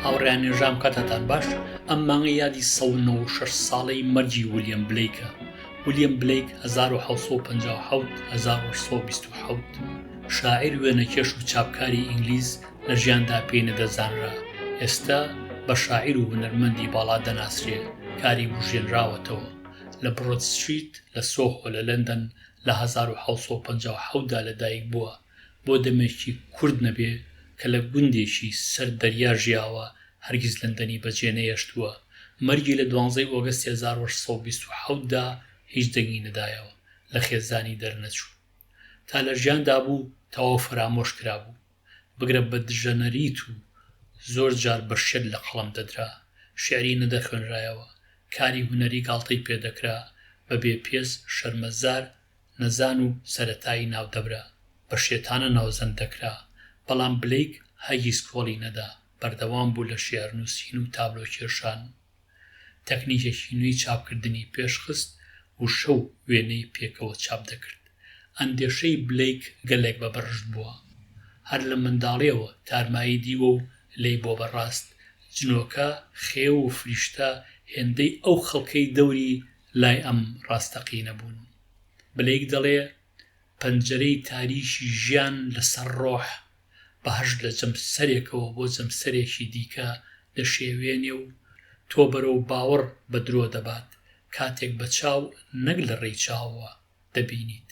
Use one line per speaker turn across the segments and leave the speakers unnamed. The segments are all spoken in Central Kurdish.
هاوڕێیان نێژام کاتتان باش ئەم مانگە یادی 16 ساڵەی مەرجی ولیەم بلیکە ولیەم بلیک 1950 شاعیر وێنەکێش و چاپکاری ئینگلیز لە ژیاندا پێی نەدەزانرا ئێستا بە شاعیر و هونەرمەندی باڵا دەناسرێ کاری بژێنراوەتەوە لە بڕۆت سویت لە سۆخۆ لە لەندەن لە 1950دا لەدایک بووە بۆ دەمێکی کورت نەبێ کە لە گوندێکی سەر دەریا ژیاوە هەرگیز لەندەنی بە جێ نەهێشتووە، مەرگی لە دوانزەی ئۆگەستی هەزار و هەشت سەد و بیست و حەوت دا هیچ دەنگی نەدایەوە، لە خێزانی دەرنەچوو. تا لە ژیاندا بوو تەواو فەرامۆش کرابوو. بگرە بە دژەنەریت و زۆر جار بە شێت لە قەڵەم دەدرا. شیعری نەدەخوێنرایەوە. کاری هونەری گاڵتەی پێ دەکرا. بە بێ پێست، شەرمەزار، نەزان و سەرەتایی ناو دەبرا، بە شێتانە ناوزەند دەکرا، بەڵام بلەیک هەرگیز کۆڵی نەدا، بەردەوام بوو لە شێعرنووسین و تابلۆکێشان و تەکنیکێکی نوێی چاپکردنی پێشخست و شەو وێنەی پێکەوە چاپ دەکرد. ئەندێشەی بلەیک گەلێک بە بەرشت بووە. هەر لە منداڵییەوە تارمایی دیوە و لێی بۆ بە ڕاست جنۆکە، خێو و فریشتە هێندەی ئەو خەڵکەی دەوری لای ئەم ڕاستەقینە بوون. بلەیک دەڵێ، پەنجەرەی تاریکی ژیان لە سەر ڕۆح، بەهەشت لە جەمسەرێکەوە بۆ جەمسەرێکی دیکە دەشێوێنێ و تۆ بەرەو باوەڕ بە درۆ دەبات، کاتێک بە چاو نەک لە ڕێی چاوەوە دەبینیت.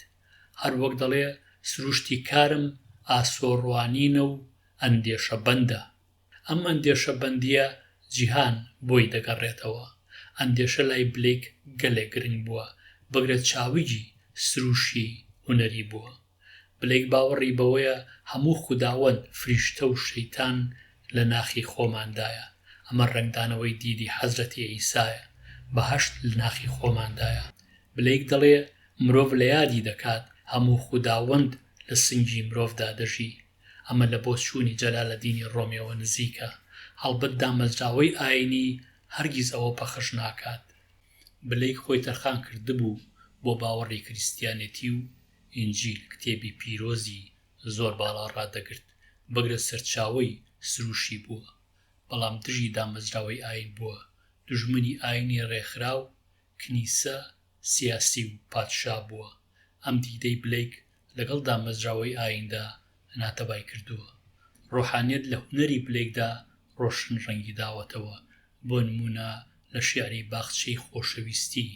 هەر وەک دەڵێ، سروشتی کارم ئاسۆ ڕوانینە و ئەندێشە بەندە. ئەم ئەندێشە بەندییە جیهان بۆی دەگەڕێتەوە. ئەندێشە لای بلیک گەلێک گرنگ بووە، بگرە چاوگی سرووشی هونەری بووە. بلیک باوەڕی بەوەیە هەموو خوداوەند، فریشتە و شەیتان لە ناخی خۆماندایە. ئەمە ڕەنگدانەوەی دیدی حەزرەتی عیسایە، بەهەشت لە ناخی خۆماندایە. بلیک دەڵێ مرۆڤ لە یادی دەکات، هەموو خوداوەند لە سنگی مرۆڤدا دەژی. ئەمە لە بۆچوونی جەلالەدینی ڕۆمیەوە نزیکە، هەڵبەت دامەزراوەی ئایینی هەرگیز ئەوە پەخش ناکات. بلەیک خۆی تەرخان کردبوو بۆ باوەڕی کریستیانێتی و ئینجیل کتێبی پیرۆزی زۆر باڵا ڕادەگرت، بگرە سەرچاوەی سروشی بووە، بەڵام دژی دامەزراوەی ئایین بووە، دوژمنی ئایینی ڕێکخراو، کنیسە سیاسی و پادشا بووە، ئەم دیدەی بلەیک لەگەڵ دامەزراوەی ئاییندا ناتەبای کردووە. ڕۆحانیەت لە هونەری بلەیکدا ڕۆشن ڕەنگی داوەتەوە، بۆ نموونە لە شیعری باخچەی خۆشەویستی،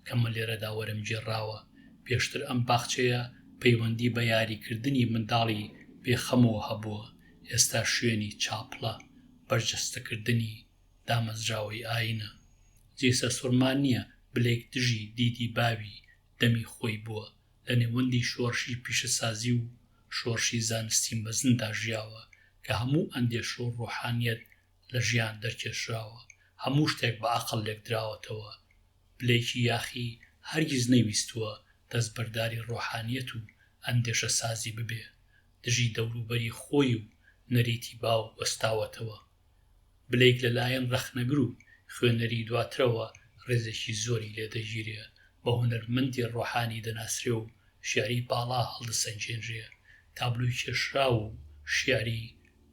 کە من لێرەدا وەرمگێڕاوە، پێشتر ئەم باخچەیە پەیوەندی بە یاریکردنی منداڵی بێخەمەوە هەبووە، ئێستا شوێنی چاپڵە، بەرجەستەکردنی دامەزراوەی ئاینە جێی سەرسوڕمان نیە بلەیک دژی دیدی باوی دەمی خۆی بوە لە نێوەندی شۆرشی پیشەسازی و شۆرشی زانستی مەزندا ژیاوە کە هەموو ئەندێشە و ڕۆحانیەت لە ژیان دەرکێشراوە هەموو شتێک بە ئەقڵ لێکدراوەتەوە بلەیکی یاخی هەرگیز نەیویستوە دەستبەرداری ڕۆحانیەت و ئەندێشەسازی ببێ دژی دەوروبەری خۆی و نەریتی باو وەستاوەتەوە بلەیک لەلایەن ڕەخنەگر و خوێنەری دواترەوە ڕێزێکی زۆری لێ دەگیرێ، بە هونەرمەندی ڕۆحانی دەناسرێ و شیعری باڵا هەڵدەسەنگێنرێ، تابلۆی کێشراو و شیعری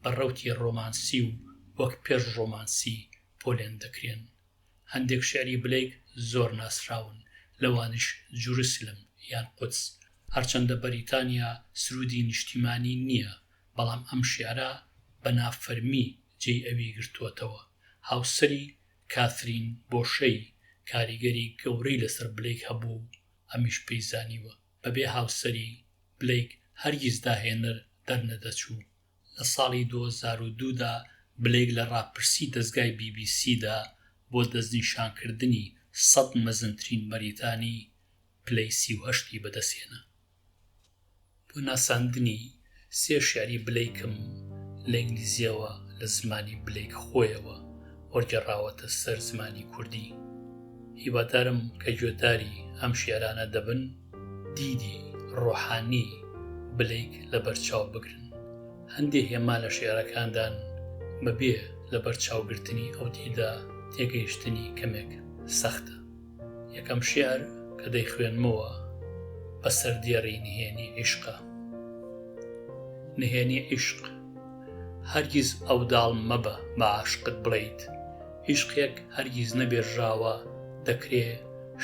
بە ڕەوتی ڕۆمانسی و وەک پێش ڕۆمانسی پۆلێن دەکرێن. هەندێک شیعری بلەیک زۆر ناسراون، لەوانیش جروسلم یان قودس، هەرچەندە بەریتانیا سروودی نیشتیمانی نییە، بەڵام ئەم شیعرە بە نافەرمی جێی ئەوی گرتووەتەوە، هاوسەری کاثرین بۆشەی کاریگەری گەورەی لەسەر بلەیک هەبووە و ئەمیش پێی زانیوە، بەبێ هاوسەری، بلەیک هەرگیز داهێنەر دەرنەدەچوو. لە ساڵی دوو هەزار و دوو دا بلەیک لە ڕاپرسی دەزگای بی بی سی دا بۆ دەستنیشانکردنی سەد مەزنترین بەریتانی، پلەی سی و هەشت ی بەدەستهێنا. بۆ ناساندنی سێ شیعری بلەیکم لە ئینگلیزییەوە لە زمانی بلەیک خۆیەوە وەرگێڕاوەتە سەر زمانی کوردی. هیوادارم کە گوێداری ئەم شیعرانە دەبن دیدی ڕۆحانی بلەیک لەبەرچاو بگرن. هەندێ هێما لە شیعرەکاندان بەبێ لەبەرچاوگرتنی ئەو دیدە تێگەیشتنی کەمێک سەختە. یەکەم شیعر کە دەیخوێنمەوە بە سەردێڕی نهێنی عیشقە نهێنی عیشق هەرگیز ئەو داڵ مەبە بە عاشقت بڵیت عیشقێک هەرگیز نەبێژراوە دەکرێ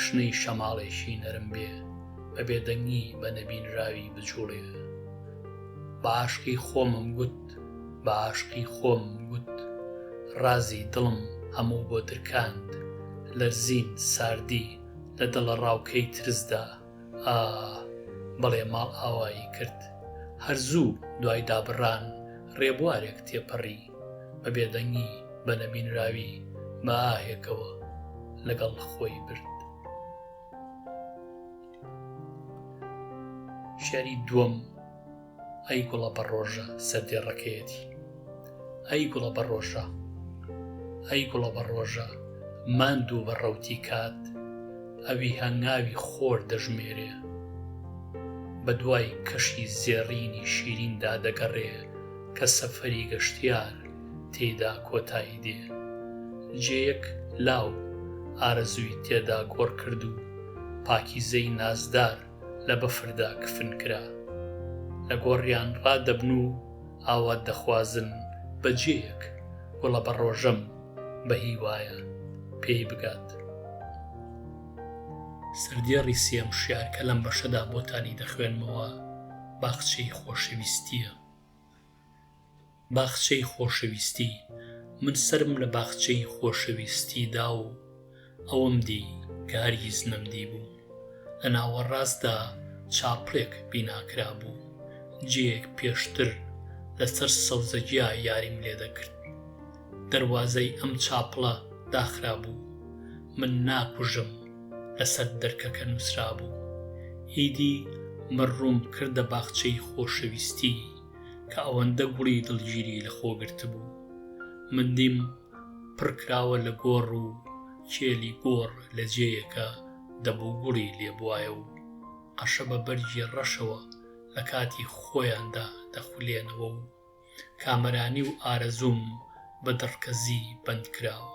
شنەی شەماڵێکی نەرم بێ بە بێدەنگی بە نەبینراوی بجوڵێ بە عاشقی خۆمم گوت بە ئاشقی خۆم وت ڕازی دڵم هەموو بۆ درکاند لەرزین ساردی لە دڵەڕاوکێی ترسدا ئاه بەڵێ ماڵئاوایی کرد هەر زوو دوای دابڕان ڕێبوارێک تێپەڕی بە بێدەنگی بە نەبینراوی بە ئاهێکەوە لەگەڵ خۆی برد. شعری دووەم ئەی گوڵە بە ڕۆژە سەر دێڕەکەیەتی ئەی گوڵە بە ڕۆژە ئەی گوڵە بە ڕۆژە ماند و بە ڕەوتی کات ئەوی هەنگاوی خۆر دەژمێرێ بە دوای کەشی زێڕینی شیریندا دەگەڕێ کە سەفەری گەشتیار تێدا کۆتایی دێ جێیەک لاو ئارەزووی تێدا گۆڕ کرد و پاکیزەی نازدار لە بەفردا کفن کرا، لە گۆڕیان ڕادەبن و ئاوات دەخوازن بە جێیەک گوڵە بە ڕۆژەم بە هیوایە پێی بگات. سەردێڕی سێم شیعر کە لەم بەشەدا بۆتانی دەخوێنمەوە باخچەی خۆشەویستییە. باخچەی خۆشەویستی من سەرم لە باخچەی خۆشەویستی دا و ئەوەم دی کە هەرگیز نەمدیبوو لە ناوەڕاستدا چاپڵێک بینا کرابوو جێیەک پێشتر لەسەر سەوزەگیا یاریم لێ دەکرد دەروازەی ئەم چاپڵە داخرابوو من ناکوژم لەسەر دەرکەکە نووسرابوو ئیدی مەڕووم کردە باخچەی خۆشەویستی کە ئەوەندە گوڵی دڵگیری لە خۆ گرتبوو. من دیم پڕ کراوە لە گۆڕ و کێلی گۆڕ لە جێیەکە دەبوو گوڵی لێ بوایە و قەشە بە بەرگی ڕەشەوە لە کاتی خۆیاندا دەخولێنەوە و کامەرانی و ئارەزووم بە دڕکەزی بەند کراوە.